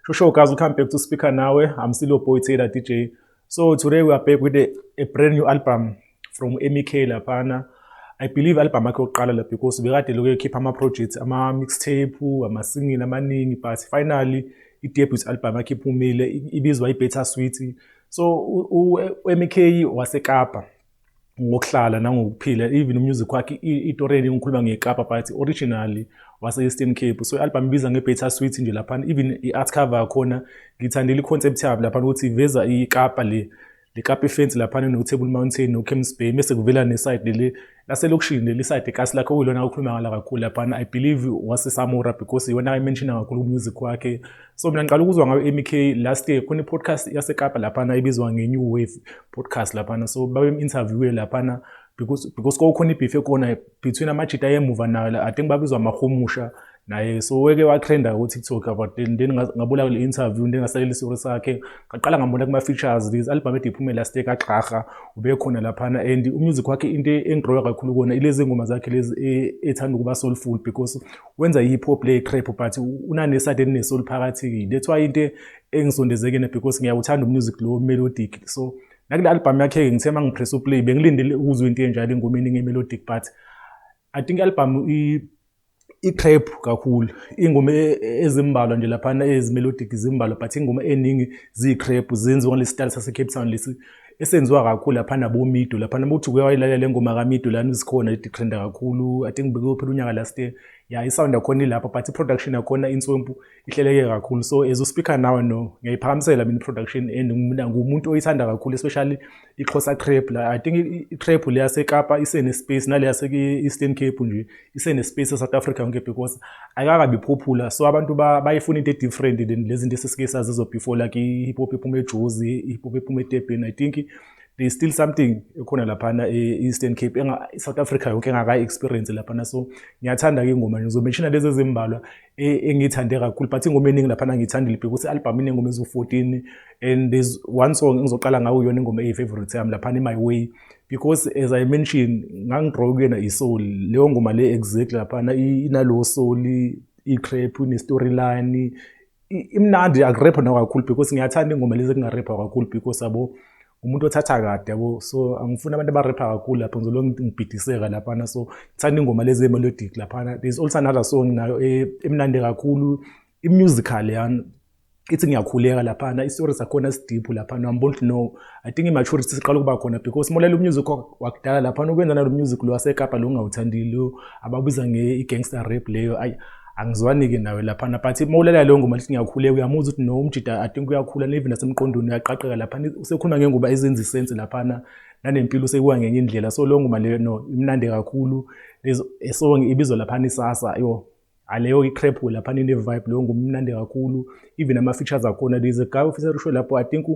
Shusho guys, we come back to speaker now. Eh? I'm still your boy Taylor DJ. So today we are back with a, a brand new album from MEK laphana. I believe album yakhe yokuqala la because bekade lokho ekhipha ama projects ama mixtape, ama single amaningi but finally i debut album yakhe iphumile ibizwa i Better Sweet. so uMK waseKapa ngokuhlala nangokuphila even umusic wakhe itoreni ngikhuluma ngekapa but originally wase-eastern cape so i-album ibiza nge-beta sweet nje laphana even i-art cover yakhona ngithandela i-concept yabo laphana ukuthi iveza ikapa le likapa ifensi laphana no-table mountain no-camps bay mese kuvela neside leli laselokishini leli side kasi lakhe okuyilona okhuluma ngala kakhulu laphana i believe wasesamora because iwona ayimenshina kakhulu kumusic wakhe so mina ngiqala ukuzwa ngayo mk last year khona i-podcast yasekapa laphana ibizwa nge-new wave podcast laphana so babem-interviewe laphana because because kwakukhona ibhifu ekhona between amajita ayemuva nayo i think babizwa amahumusha naye so weke watrenda ukuthi talk about then then ngabula kule interview then ngasalela isori sakhe ngaqala ngambona kuma features this album ethi iphume last year kaGraha ube khona laphana and umusic wakhe into engigroya kakhulu kona ilezi ngoma zakhe lezi e, ethanda ukuba soulful because wenza hip hop le trap but unane side ne soul phakathi that's why into engisondezekene because ngiyawuthanda umusic lo melodic so nakule album yakhe ngithe mangipress uplay bengilindele ukuzwa into enjalo engomeni ngemelodic but i think album i i-trap kakhulu ingoma e, e, ezimbalwa nje laphana ezimelodic zimbalwa but ingoma eningi ziyi-trap zenziwa ngalesi style sase-cape town lesi esenziwa kakhulu laphana bomido laphana ukuthi uke wayilalela le ngoma kamido lana izikhona iditrenda kakhulu i think bekuyo phela unyaka last year ya isound yakhona ilapha but i-production yakhona inswempu ihleleke kakhulu so as uspeaker nawe no ngiyayiphakamisela mina i-production and ngumuntu oyithanda kakhulu especially ixhosa crepe la i think i-crepe le yasekapa isene-space nale yase-eastern cape nje isene-space e-south africa yonke because ayikakabi popular so abantu bayifuna into e-different than lezi zinto esesike sazizo before like i-hip hop ephuma ejozi i-hip hop ephuma etebheni i think there's still something ekhona laphana e-eastern cape south africa yonke engakayi-experience laphana so ngiyathanda-ke ingoma ngizomenshina lezi ezimbalwa e, engiyithande kakhulu but ingoma eningi laphana ngiyithandile bheka ukuthi album inengoma eziwu-14 and there's one song engizoqala ngawo yona ingoma eyi-favorite yami laphana i-my way because as i mentioned ngangidrawe kuyena i-soul leyo ngoma le exactly laphana inalowo soul i-crap ine-storyline imnandi akurepha nakakhulu because ngiyathanda ingoma lezi kungarepha kakhulu because abo umuntu othatha kade yabo so angifuni abantu abarepha kakhulu lapho ngizolo ngibhidiseka laphana so ngithanda ingoma lezi melodic laphana there's also another song nayo e, emnandi kakhulu i-musical yani ithi ngiyakhuleka laphana isitori sakhona sidiphu laphana wambona ukuthi no i think i-maturity siqala ukuba khona because molalela umusic wakudala laphana ukwenza nalo music lo wasekapa lo ngingawuthandile ababiza nge-i-gangster rap leyo ayi angizwani-ke nawe laphana but uma ulalela leyo ngoma lithi ngiyakhuleka uyamuzwa ukuthi no umjida i think uyakhula nevi nasemqondweni uyaqaqeka laphana usekhuluma ngenguba ezenza isensi laphana nanempilo usekuwa ngenye indlela so leyo ngoma leyo no imnandi kakhulu esong ibizwa laphana isasa yo aleyo i-crap laphana ine-vibe leyo ngoma imnandi kakhulu even ama-features akhona there's a guy ofisa rusho lapho i think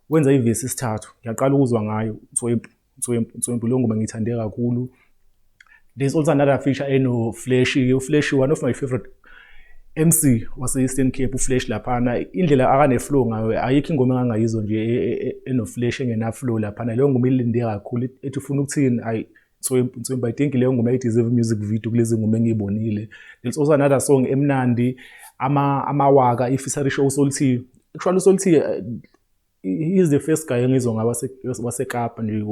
wenza ivesi isithathu ngiyaqala ukuzwa ngayo so Nswempu, Nswempu leyo ngoma ngiyithande kakhulu. There's also another feature eno Flashy, uFlashy one of my favorite MC wase Eastern Cape uFlash laphana indlela akane flow ngayo ayikho ingoma engangayizwa nje e, e, e, eno Flash engena flow laphana leyo ngoma ilinde kakhulu ethi ufuna ukuthini ay Nswempu Nswempu I think leyo ngoma i deserve music video kulezi ngoma engiyibonile there's also another song emnandi ama amawaka ifeaturing show uSolthi actually uSolthi eh, he's the first guy engizwa ngaba wasekapa nje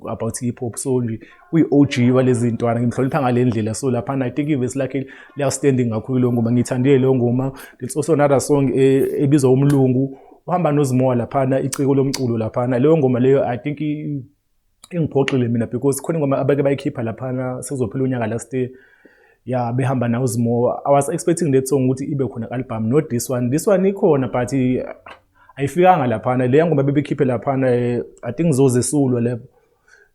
about hip hop so nje uyi-og walezi ntwana ngimhlonipha ngale ndlela so laphana i think ivesi lakhe liya-standing kakhulu leyo ngoma ngiyithandile leyo ngoma it's also another song eh, ebizwa umlungu uhamba nozimowa laphana iciko lomculo laphana leyo ngoma leyo i think ingiphoxile mina because khona ingoma abake bayikhipha laphana sekuzophela unyaka last year ya behamba nawo zimo i was expecting that song ukuthi ibe khona album not this one this one ikhona but ayifikanga laphana le ngoma bebekhiphe laphana eh, i think zozesulwa le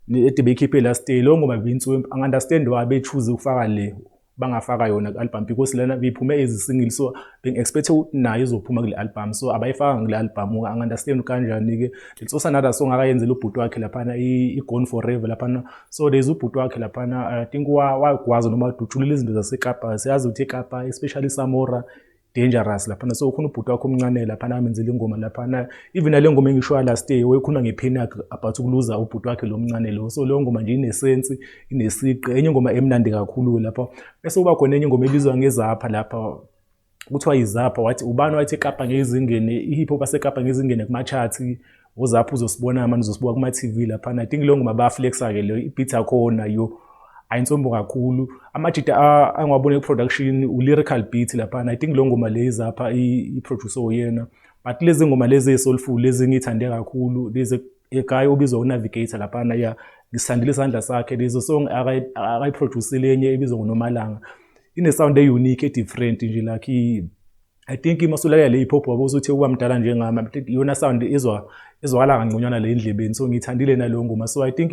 ede beyikhiphe last year lo ngoma beyinsuku angi understand why be choose ukufaka le bangafaka yona ku-album because lena biphume as single so bengi-expect ukuthi nayo izophuma kule album so abayifakanga kule album unga-understand kanjani-ke it's also another song akayenzela ubhuti wakhe laphana i-gone forever laphana so there's ubhuti wakhe laphana i think wagwaza noma dutshulula izinto zasekapa siyazi ukuthi ekapa especially samora dangerous laphana so ukhona ubhuti wakho omncane laphana amenzela ingoma laphana even nale ngoma engishoya last day wayekhuluma ngephini yakhe about ukuluza ubhuti wakhe lo mncane lo so leyo ngoma nje inesensi inesiqi enye ingoma emnandi kakhulu lapha bese uba khona enye ingoma ebizwa ngezapha lapha kuthiwa yizapha wathi ubani wathi ekapa ngezingene i-hip hop asekapa ngezingene kuma-charts Uzapha uzosibona manje uzosibuka kuma TV laphana. I think leyo ngoma bayaflexa ke leyo ibeat yakhona yo ayintsombo kakhulu. Amajita angiwabone production u lyrical beat laphana. I think leyo ngoma le izapha i producer oyena. But lezi ngoma lezi ezisoulful lezi ngithande kakhulu lezi ekhaya ubizwa unavigator laphana ya ngisithandile isandla sakhe lezo song akayiproducile enye ebizwa ngonomalanga ine sound e unique e different nje like I think uma usulalela hip hop wabuza ukuthi ukuba mdala njengami I think iyona sound izwa izwakala kangconywana le endlebeni so ngiyithandile naleyo ngoma so I think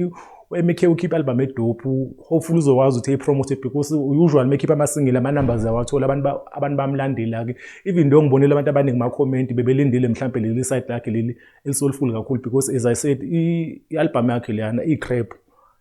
u-MK ukhipha album edophu hopefully uzokwazi ukuthi ayipromote because usual mekhipha ama-single ama-numbers awathola abantu abantu bamlandela-ke even though ngibonile abantu abaningi ma-comment bebelindile mhlawumbe leli side lakhe leli elisolifuli kakhulu because as I said i-album yakhe leyana iyi-crap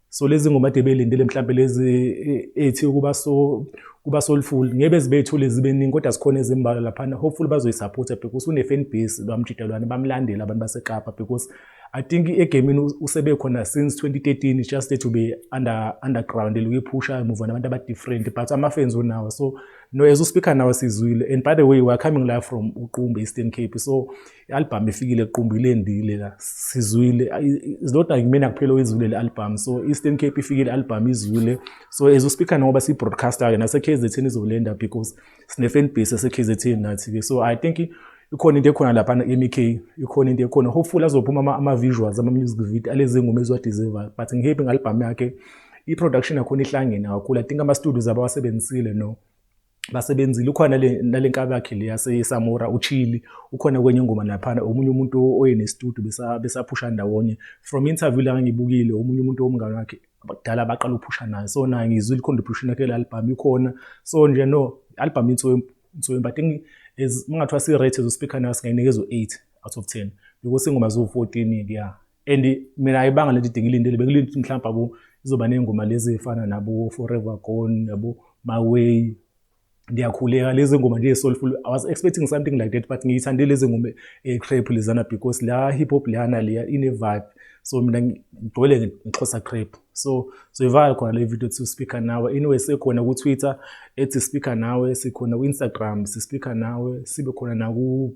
so lezi ngoma de belindele mhlawumbe lezi e, ethi ukuba so kuba soulful ngeke zibethule zibe ningi kodwa sikhona ezimbalwa laphana hopefully bazoyisupporta because une fan base lwamjidalwane bamlandela abantu baseKapa because i think egamini usebe khona since 2013 it's just to be under underground eluyiphusha emuva nabantu aba different but ama fans unawo so no as uspeaker nawo sizwile and by the way we are coming live from uqumbe eastern cape so i-albhamu ifikile equmbu ilendile la sizwile izilodwa kumina kuphela oyizwile le albhamu so eastern cape ifikile le albhamu izwile so as uspeaker ngoba siyi-broadcaster-ke nase-k z ten izolenda because sine-fan base yase-k z ten nathi-ke so i think ikhona into ekhona lapha e-mk ikhona into ekhona hopefully azophuma ama-visuals ama-music video alezi ngoma eziwadeservayo but ngihappy nge-albhamu yakhe i-production yakhona ihlangene kakhulu i think ama-studios abawasebenzisile no basebenzile ukhona nale nkabi yakhe le yasesamora uchili ukhona kwenye ingoma laphana omunye umuntu oyenestudio besaphusha ndawonye from interview la ngibukile omunye umuntu womngane wakhe kudala baqala ukuphusha naye so naye ngizwile i-contribution yakhe le album ikhona so nje no album insoyempu insoyempu i think as kungathiwa si-rate ezospikha nayo singayinikeza u-eight out of ten because ingoma ziwu-fourteen-ke ya and mina ayibanga lento idinga ilindele bengilinde ukuthi mhlawumbe abo izoba ney'ngoma lezi ey'fana nabo forever gone yabo my way ndiyakhuleka lezi ngoma nje soulful i was expecting something like that but ngiyithande lezi ngoma ecrap lezana because la hip hop leyana leya ine vibe so mina ngigcwele ngixhosa crap so so ivala khona le video to speaker nawe anyway sekhona ku Twitter ethi speaker nawe sikhona ku Instagram si speaker nawe sibe khona na ku